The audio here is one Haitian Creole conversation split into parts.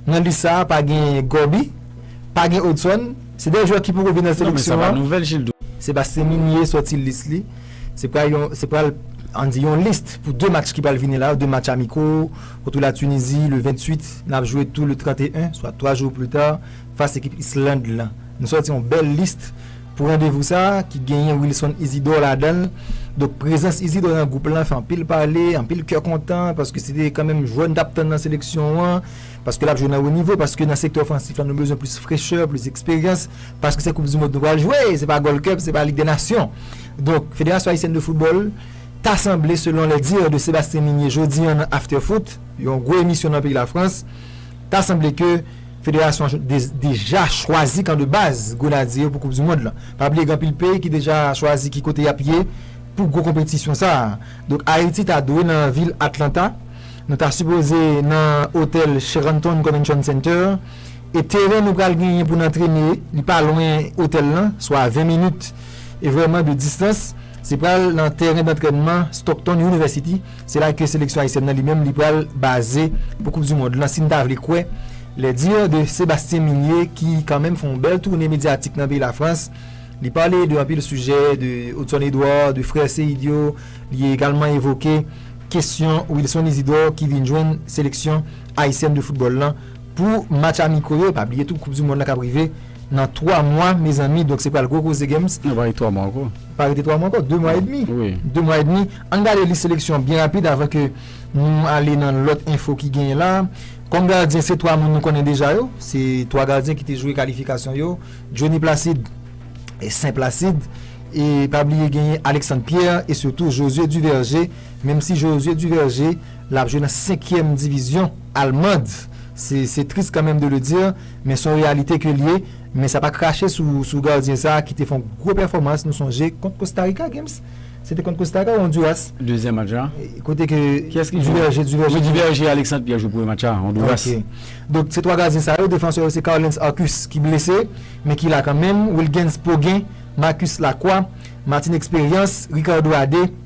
Nan lis sa a pa gen Gòbi, pa gen Odson, se de jwè ki poko vin nan seleksyon an. Sebastien Migné sòti lis li. Se pral yon, se pral, an di yon lis pou 2 match ki pral vini la yo, 2 match amiko, kote la Tunizi le 28, n ap jwe tou le 31, swa 3 jou pli ta, fas ekip Island lan. Nou sòti yon bèl lis. Pou randevou sa a, ki genyen Wilson Isidor ladan l, donk prezans Isidor nan gwoup lan fè anpil pale, anpil kè kontan, paske se te kanmenm jwè nou t ap tann nan seleksyon an, paske l ap jwe nan wo nivo, paske nan sektè ofansif la nou bezwen plis frechè, plis eksperyans, paske se koupdimond nou pral jwe, se pa Gold Cup, se pa Lig dè Nasyon. Donk, Federasyon Ayisyèn de Foutbòl ta sanble, selon les dires de Sébastien Migné jodi an nan After Foot, yon gwo emisyon nan peyi Lafrans, ta sanble ke. Federasyon an deja chwazi kan de baz Grenadye yo pou koup du mond lan. Pa bliye gen anpil peyi ki deja chwazi ki kote yap ye pou gwo konpetisyon sa. Donk Ayiti ta dwe nan vil Atlanta, nou ta sipoze nan otèl Sheraton Convention Center e teren nou pral genyen pou n antrene li pa lwen otèl lan, swa 20 minit e vrèman de distans, se pral nan tèren dantrènman Stockton University. Se la ke seleksyon ayisyèn nan li menm li pral baze pou koup du mond lan si n ta vle kwè les dires de Sebastien Migné ki kan menm fè yon bèl toune medyatik nan peyi Lafrans. Li pale de anpil sijè, de Hudson Edouard, de frè Seid yo, li egalman evoke kesyon Wilson Isidore ki vin jwenn seleksyon ayisyèn de foutbòl lan. Pou match amiko yo, pa bliye tou koup du mond la kap rive nan 3 mwa mezanmi donk se pral gwo koze Games. Nan pa rete 3 mwa ankò. Pa rete 3 mwa ankò, 2 mwa edmi. Wi. 2 mwa edmi. Ann gade lis seleksyon byen rapid avan ke nou ale nan lòt enfo ki genyen la. Kòm gadyen se 3 moun nou konnen deja yo, se 3 gadyen ki te jwe kalifikasyon yo, Jhonny Placide, Sen Placide e pa bliye genyen Alexandre Pierre e sitou Josué Duverger menm si Josué Duverger L ap jwe nan senkyèm divizyon almand. Se tris kan menm de le dire, men son reyalite ke l ye. Men sa pa krache sou gardyen sa ki te fon gwo pèfòmans nou sonje kont Kostarika Gims. Se te kont Kostarika ou Onduras? Dezyèm match la. Kote ke Duverger te jwe. Duverger Alexandre Pierre jwe premye match la, Onduras. Ok. Donk se twa gardyen sa yo, defansè yo se Carlens Arcus ki blese, men ki la kan menm, Wilgens Poguin, Marcus Lacroix, Martin Expérience, Ricardo Adé,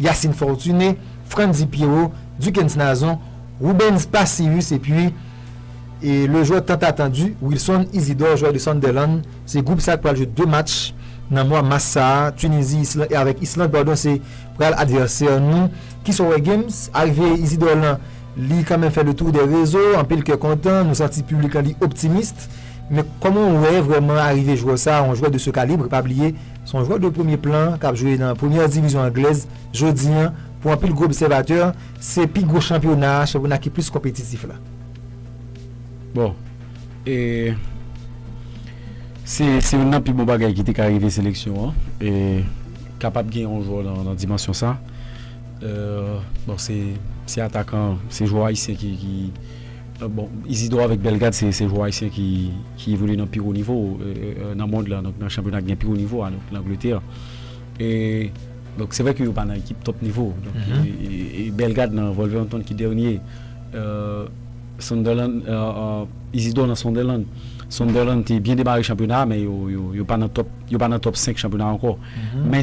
Yacine Fortuné, Frantzy Pierrot, Duckens Nazon, Rubens Pacius epi le jwè tant attendu Wilson Isidore jwè de Sunderland se gwoup sa ki pral jwe 2 match nan mwa mas sa a Tunisie Island avèk Islande padon se pral advèsè nou kisa w wè Games arive Isidore lan li kanmenm fè le tour des réseaux anpil kè kontan nou santi piblik lan li optimiste men kòman w wè vrèman arive jwè sa a yon jwè de ce calibre pa bliye Se yon jwè de premye plan k ap jwe nan premyè divizyon anglèz jodi an. Pou anpil gwo obsèvatè, se pi gwo chanpyona a, chanpyona ki plis konpetitif la. Bon, e se youn nan pi bon bagay ki te ka rive seleksyon an, e kapab gen yon jwè nan dimansyon sa. Bon, se atakan, se jwè ayisyen ki. Bon, Izidò avèk Bèlgad se se jwè ayisyen ki ki evolye nan pi wo nivo nan mond la, donk nan chanpyona ki gen pi wo nivo a, donk Langletè. E donk se vre ke yo pa nan ekip tòp nivo, donk e Bèlgad nan Wolverhampton ki dènye, Sunderland, Izidò nan Sunderland. Sunderland te byen demare chanpyona a men yo yo pa nan tòp yo pa nan tòp senk chanpyona a ankò. Men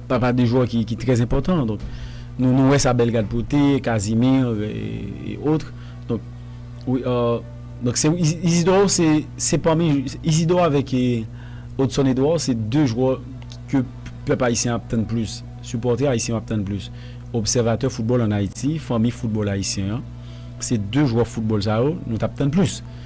Papa 2 jwè ki trè enpòtan donk nou wè sa Bellegarde pote, Casimir e otre donk wi donk se Isidro se pami Isidro avèk Odson Edouard se 2 jwè ke pèp ayisyen ap tann plis, sipòtè ayisyen yo ap tann plis, obsèvatè foutbòl an Ayiti, fanmi foutbòl ayisyen an se 2 jwè foutbòl sa yo nou t ap tann plis.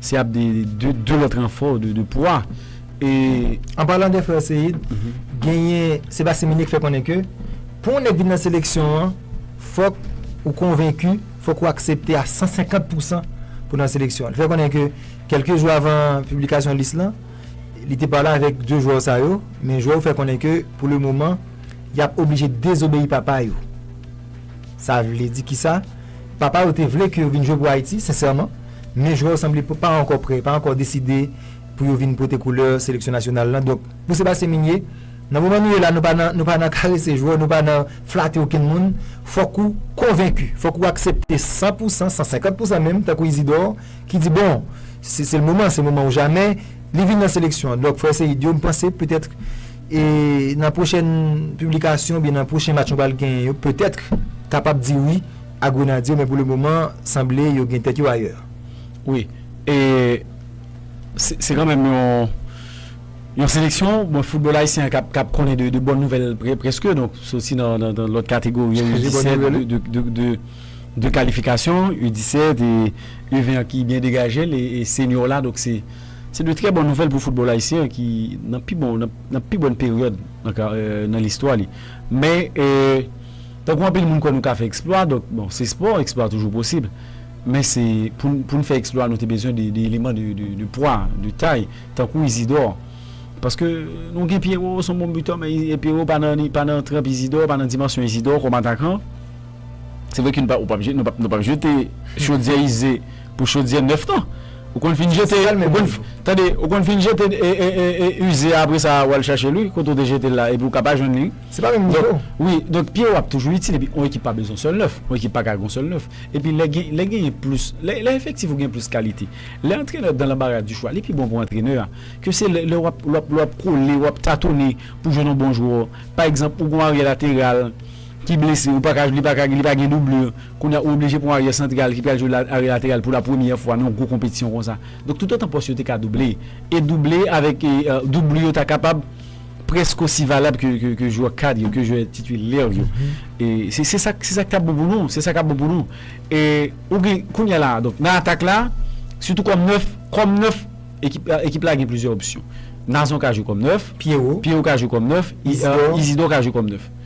Se ap de de lòt ranfò de pwa e. An palan de frè Seyid, genyen Sebastien Migné ki fè konnen ke pou yon nèg vin nan seleksyon an, fòk ou konvenki, fòk ou aksepte a 150 pousan pou nan seleksyon an. Li fè konnen ke kèlke jou avan piblikasyon lis lan, li te pale avèk 2 jwè sa yo, men jwè yo fè konnen ke pou le moman, y ap oblije dezobeyi papa yo. Sa vle di kisa? Papa yo te vle ke yo vin jwe pou Ayiti, sensèman, men jwè yo sanble pa ankò prè, pa ankò deside pou yo vin pote koulè seleksyon nasyonal lan. Donk, pou Sebastien Migné, nan moman nou ye la, nou pa nan karese jwè, nou pa nan flate okenn moun. Fòk ou konvenki, fòk ou aksepte san pou san, san senkant pou san menm, tankou Isidor, ki di bon, se l moman, se moman ou jamè, li vin nan seleksyon an. Donk, frè Seïdio, m panse petèt. E nan pwochèn piblikasyon oubyen nan pwochen match nou pral genyen yo petèt kapab di wi a Grenadye yo men pou le moman sanble yo gen tèt yo ayè. Wi, e se kanmenm yon seleksyon bon foutbòl ayisyen an kap konnen de bòn nouvèl prèske donk soti nan lòt kategori yo U 17 de kalifikasyon U 17 e U 20 an ki byen degaje l e senyo la donk se. Se de trè bon nouvèl pou foutbòl ayisyen an ki nan pi bon nan pi bòn peryòd nan ka nan listwa li. Men tankou anpil moun kwè nou ka fè eksplwa donk bon se spò eksplwa toujou posib men se pou n pou n fè eksplwa nou te bezwen de de eleman de de de pwa de tay tankou Izidò paske nou gen Pyero s on bon bitò men Pyero pa nan pa nan tranp Izidò pa nan dimansyon Izidò kòm atakan. Se vre ke nou pap jete, nou pap jete chodyè ize pou chodyè nèf nan. Ou konn fin jete, tande, ou konn fin jete ize a apre sa wal chache l wi, kote ou te jete l la epi ou ka pa jwenn li. Se pa menm nivo. Wi, donk pye yo ap toujou itil epi yon ekip pa bezwen yon sèl nèf, yon ekip paka ak yon sèl nèf. Epi lè gen, lè genyen plis, lè efektif ou gen plis kalite. Lè antrenè dan lanbara di chwa, li pi bon pou antrenè a. Ke se lè wap, lè wap kole, wap tatone pou jwenn yon bon jwè. Pa egzanp, ou gen yon aryè lateral. Ki blese, ou pa ka, li pa ka, li pa gen doublure. Kounye a ou oblije pran yon aryè santral ki pral jwe aryè lateral pou la premyè fwa nan yon gwo konpetisyon konsa. Donk toutotan pòs yo te ka double, e double avèk doublure yo ta kapab prèske osi valab ke jwè kad yo, ke jwè titilè yo. Se sa k, se sa k ta bon pou nou, se sa k ap bon pou nou. E ou gen, kounye a la a, donk nan atak la, sitou kòm nèf, kòm nèf ekip, ekip la gen plizyè opsyon. Nazon ka jwe kòm nèf. Pyero. Pyero ka jwe kòm nèf. Izidò. Izidò ka jwe kòm nèf.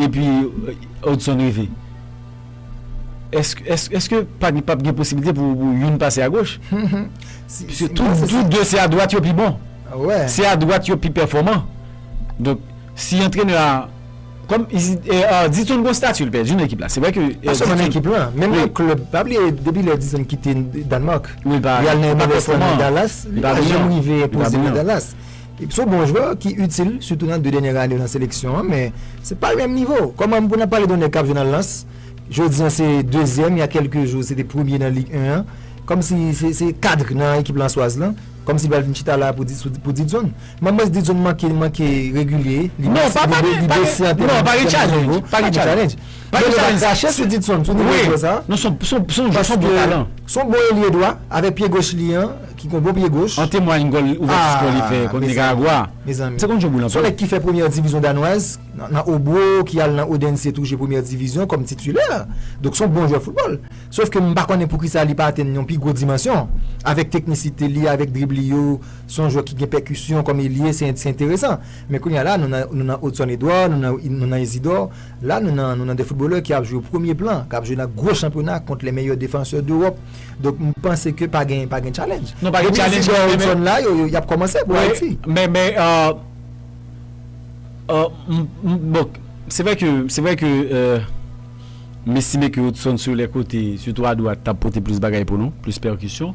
Epi Hudson rive. Eske pap gen posibilite pou youn pase agoch? Piske tou de se adwat yo pi bon. Se adwat yo pi pèfòman. Donk, si antrenè a, kòm Hudson gon stati l pèdi nan ekip la. Se vre ke. Pa sèlman nan ekip la. Menm nan klèb. Pa bliye depi lè Hudson kite Danmark. Li pa pèfòman. Li pa janm rive enpoze nan Dallas. Son bon jwè ki itil sitou nan 2 dènyè ane yo nan seleksyon an men se pa menm nivo. Kòman pou nan pale de yon nèg kap jwe nan Lens jodi an se dezyèm ya kèlke jou se te premye nan Ligue 1 an kòmsi se kadr nan ekip lanswaz lan kòmsi li pral vin chita la pou di sou pou Didson. Mwen mwens Didson manke li manke regilye li bese li bese an tèm nan nivo. Yo te ka krache sou Didson sou nivo jwè sa. Non son bon talan. Son bon elye dwa avèk pye goch li an ki gon bon pye goch. An temwany gòl ouvèti skò li fè kont Nikaragwa. Se konn jwe boul anpil. Son nèg ki fè premyè divizyon danwaz nan Obro ki al nan Odense tou jwe premyè divizyon kòm titilè. Donk son bon jwè foutbòl. Sof ke m pa konnen poukisa li pa atenn yon pi gwo dimansyon. Avèk teknisite li, avèk drib li yo, son jwè ki gen pèkisyon kòm elye se enteresan. Men kounye a la nou nan Odson Edouard, nou nan Isidor. La nou nan nou nan de footballeur ki ap jwe premye plan, kap jwe nan gwo chanpyona kont le meyè defansè dEwòp. Donk m panse ke pa gen pa gen challenge. Non pa gen challenge men men. Depi Isidore Hudson la yo yap kòmanse pou Ayiti. Wi men men m bon se vre ke se vre ke m estime ke Hudson sou lè kote sitou a dwat tap pote plis bagay pou nou, plis pèkisyon.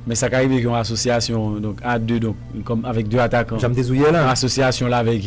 Men sa ka rive ke yon asosyasyon donk a de donk kòm avèk de atakan. Jan m te di w yè la. Yon asosyasyon l avèk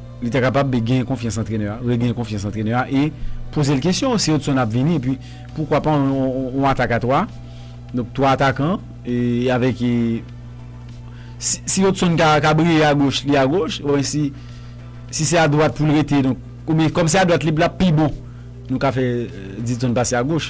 Li ta kapab de genyen konfyans antrenè a, regenyen konfyans antrenè a e poze l kesyon si Hudson ap vini epi poukwa pa yon atak a 3, donk 3 atakan e avèk e si Hudson ka briye a goch li a goch oubyen si si se a dwat pou l rete donk oubyen kòm se a dwat li lap pi bon nou ka fè Didson pase a goch.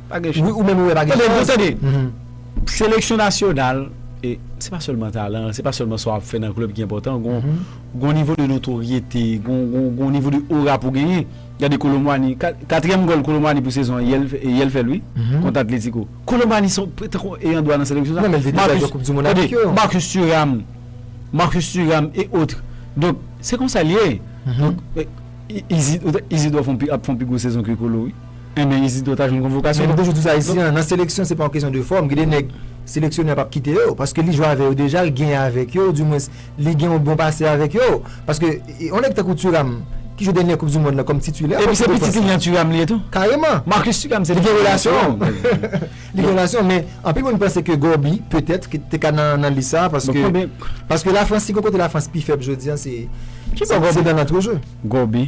Pa gen chans. Wi ou menm ou wè pa gen chans. Tande, tande. Seleksyon nasyonal, se pa sèlman talan, se pa sèlman sa w ap fè nan klèb ki enpòtan. Gon nivo de notoryete, gon nivo de ora pou w genyen. Gade Kolo Muani, katriyèm gòl Kolo Muani pou sezon an, yè l fè l wi, kont Atletiko. Kolo Muani se tankou ayan dwa nan seleksyon sa. Non men l te deja jwe koup di monn avèk yo. Marcus Thuram, Marcus Thuram et autres. Donk, se konsa l ye. Izidò ap fè yon pi gwo sezon ke Kolo wi. Enben Isidor ta jwenn konvokasyon. Men nou toujou di sa isi an, nan seleksyon se pa yon kesyon de fòm, gen de nèg seleksyonè a pap kite yo, paske li jwe avè yo deja, li genyen avèk yo, ou di mwens li gen yon bon pase avèk yo, paske yon nèg tankou Thuram ki jwe dènyè koup di mond lan kòm titilè Epi se pitit Lilian Thuram li ye tou? Kareman! Marcus Thuram se pitit Lilian Thuram. Li gen relasyon, li gen relasyon men anpil moun panse ke Gorby petèt te ka nan lis sa a paske paske Lafrans si gen yon kote Lafrans pi fèb jodi an se se nan antreje. Gorby.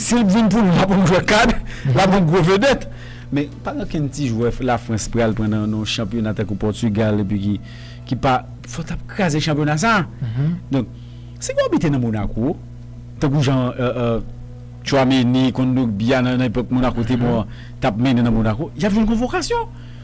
Si l t vin pou nou lap yon jwè kad, lap yon gwo vedèt. Men pa gen okenn ti jwè Lafrans pral pran nan yon chanpyona tankou Pòtigal epi ki ki pa fò t ap kraze chanpyona sa. Donk si gen yon bitè nan Monako tankou jan Tchouameni, Kondogbia nan epòk Monako te bon an t ap mennen nan Monako, y ap jwenn konvokasyon.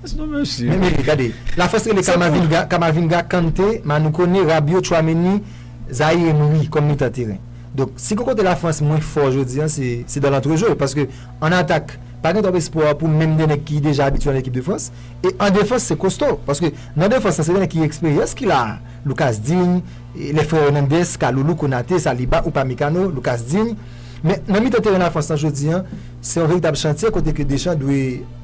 That's no mercy. Men mele, gade. La France rele Kamavinga, Kamavinga, Kante, Manu Kone, Rabiot, Tchouameni, Zaïre Emery kòm mitan teren. Donk, si gon kote la France mwen fò jodi an se, se dan lantrejwe paske an atak pa gen twòp espwa pou menm 2 nèg ki deja abitye an ekip de France e an defans se kosto paske nan defans la se 2 nèg ki gen eksperyans ki la a, Lucas Digne, les frères Hernandez, Kalulu, Konate, Saliba, Upamecano, Lucas Digne. Men nan mitan teren la France lan jodi an se yon veritab chantye kote ke Deschamps dwe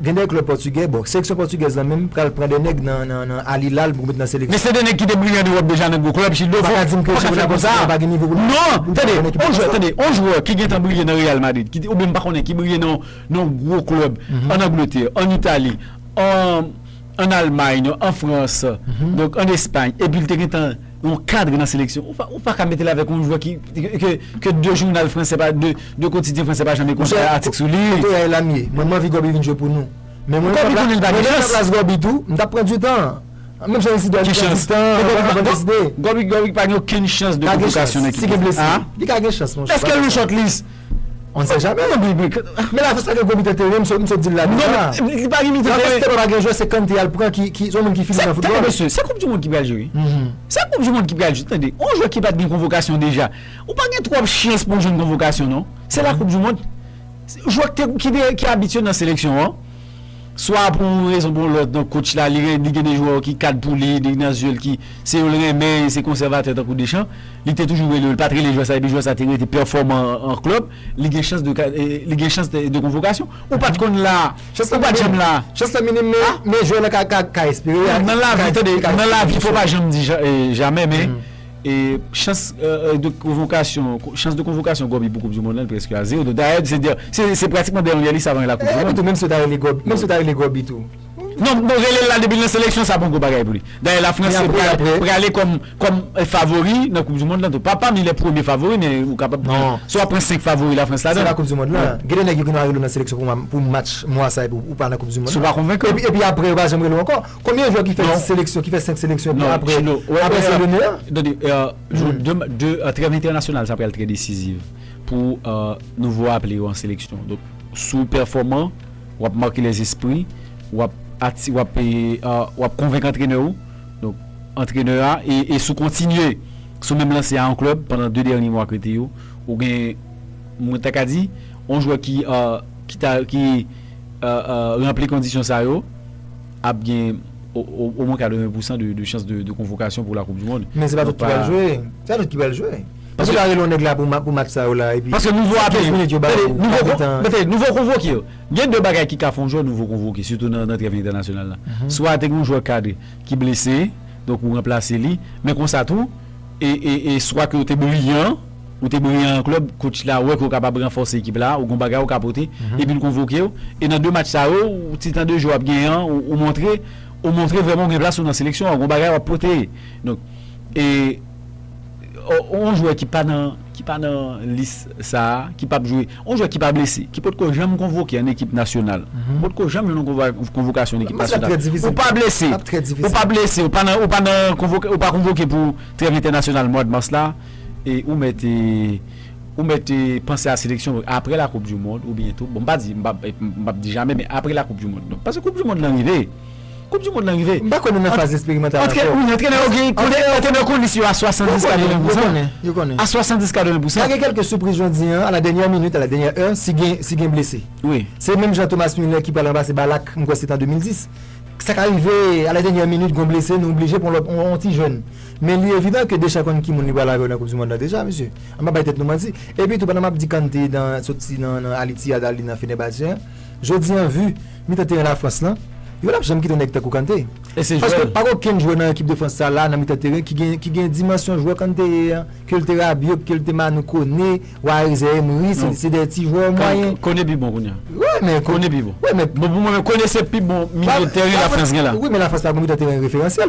Gen 2 klub pòtigè, bon seleksyon pòtigèz lan menm pral pran 2 nèg nan nan Al Hilal pou met nan seleksyon. Men se 2 nèg ki te briye an Ewòp deja nan gwo klub, Gildo fò, ou pa ka dim ke chanpyona pòtigè a pa gen nivo pou l non, tande, on jwè, tande, on jwè ki gentan briye nan Real Madrid, ki te, oubyen m pa konnen, ki briye nan yon gwo klub an Angletè, an Itali, an an Almay, an Frans, donk an Espayn, epi l te gentan. Yon cadre nan seleksyon ou pa ka metel avèk yon jwè ki ke 2 jounal fransè pa 2 kotidyen fransè pa janm ekri yon atik sou li. Kote yay lamie? Mwen manvi Gòbi vin jwe pou nou. Men mwen menm nan plas Gòbi tou m tap pran du tan. Menm jan Isidò li pran du tan avan l deside. Gòbi pa gen okenn chans de konvokasyon nan ekip nasyonal. Li ka gen chans monchè. Eske l nan short list? On sait jamais nan BB men la festa gen gwo mitan teren m sot dil la deja la festa pa gen jwè se Kante yal pran ki son moun ki fini nan foutbòl tande mesye se koup di mond ki pral jwe wi se koup di mond ki pral jwe tande on jwè ki pat gen konvokasyon deja ou pa gen twòp chans pou jwenn konvokasyon non se la koup di mond jwè ki abitye nan seleksyon an. Swa pou yon rezon pou yon lòt non coach la li gen de jwè ki kad pou li nèg nan zye l ki se yo l renmen se konsèvatè tankou Deschamps li te toujou rele yo li pat rele jwè sa epi jwè sa te rete pèfòman an club li gen chans de li gen chans de konvokasyon ou pat konn la ou pat janm la chans la minim men jwè nan ka espere nan lavi tande nan lavi fò w pa janm di jamè men. Chans de konvokasyon Goby pou koup du mond lan preske a zero dayè se pratikman dèyè yon lye li savan la koup du mond. Menm si yo ta rele Goby menm si yo ta rele Goby tou. Non bon relel la depi l nan seleksyon sa bon gwo bagay pou li dayè la frans prale kòm favori nan koup du mond lan tou pa pami lè premye favori men ou kapab pran si wap pran 5 favori la frans ladan. Se nan koup du mond lan gen de nèg yo ki nou a rele w nan seleksyon pou match mwa sa epi ou pa nan koup du mond lan epi aprè yo pa janm rele w ankò. Konbyen jwè ki fè 10 seleksyon, ki fè 5 seleksyon epi aprè aprè se le meyè? Tande, de trèv entènasyonal sa pral trè desiziv pou nou vo aple yo an seleksyon. Donk si w pèfòman, w ap make lèzespri, w ap ati, w ap w ap konvenk antrenè ou. Donk antrenè a e si w kontinye sou menm lanse a an klèb pandan 2 dènye mwa ke te yo, ou gen mwen ta ka di on jwè ki ta ki. ranpli kondisyon sa yo ap gen omwen 80 pousan de chans de konvokasyon pou la koup di mond. Men se pa tout ki pral jwe. Se pa tout ki pral jwe. Ou pral rele yon nèg la pou match sa yo la epi. Paske nou vo aple yo. Tande, nou vo konvoke yo. Gen de bagay ki ka fè yon jwè nou vo konvoke sitou nan trèv entènasyonal la. Swa te gen yon jwè kadre ki blese donk ou ranplase li men konsa tou e swa ke ou te briyan. Ou te briyan an klèb, coach la wè ke w kapab ranfòse ekip la, ou gen yon bagay ou ka pote, epi l konvoke w, e nan 2 match sa yo, ou ti tan de jou wap genyen an, ou montre, ou montre vrèman ou gen plas ou nan seleksyon an, ou gen yon bagay wap pote. Donk, e, yon jwè ki pa nan, ki pa nan lis sa, ki pap jwe, yon jwè ki pa blese, ki potko janm konvoke an ekip nasyonal, ou potko janm jwenn yon konvay, konvokasyon an ekip nasyonal, ou pa blese, ou pa blese, ou pa nan, ou pa nan konvoke, ou pa konvoke pou trèv entènasyonal mwad mas la, E ou mèt e ou mèt e panse a seleksyon aprè la koup du mond ou byen tou bon m pa di m pa m pap di jamè men aprè la koup du mond donk paske koup du mond lan rive koup du mond lan rive M pa kwè nou nan faz esperimantal ankò. Antre wi antrenè yo gen konnen antrenè yo konnen si yo a 70 80 pousan Yo konnen, yo konnen. a 70 80 pousan. Ka gen kèlke soupris jan w di an a la dènyè minit a la dènyè è si gen si gen blese. Wi. Se menm jan Thomas Muller ki pral ranplase Ballack m kwè se t an 2010 sa ka rive a la dènyè minit gon blese nou oblije pran lòt on ti jèn. Men li evidan ke Deschamps konn ki moun li pral avè w nan koup du mond la deja mesye. An pa bay tèt nou manti. Epi tou pandan map di Kante nan soti nan nan Al Ittihad al li nan Fenerbahçe an, jodi an vu mitan teren la France lan, yo pap janm kite yon nèg tankou Kante. E se jwè l. Paske pa gen okenn jwè nan ekip de France sa la nan mitan teren ki gen ki gen dimansyon jwè Kante ye an, ke l te Rabiot, ke l te Manu Kone, Oarezè Emery, se se de ti jwè mwayen. Kone pi bon kounya. Wè men Kone pi bon. Wè men. Bon pou mwen men Kone se pi bon milye teren la France gen la. Wi men la France pa gen mitan teren referansyèl.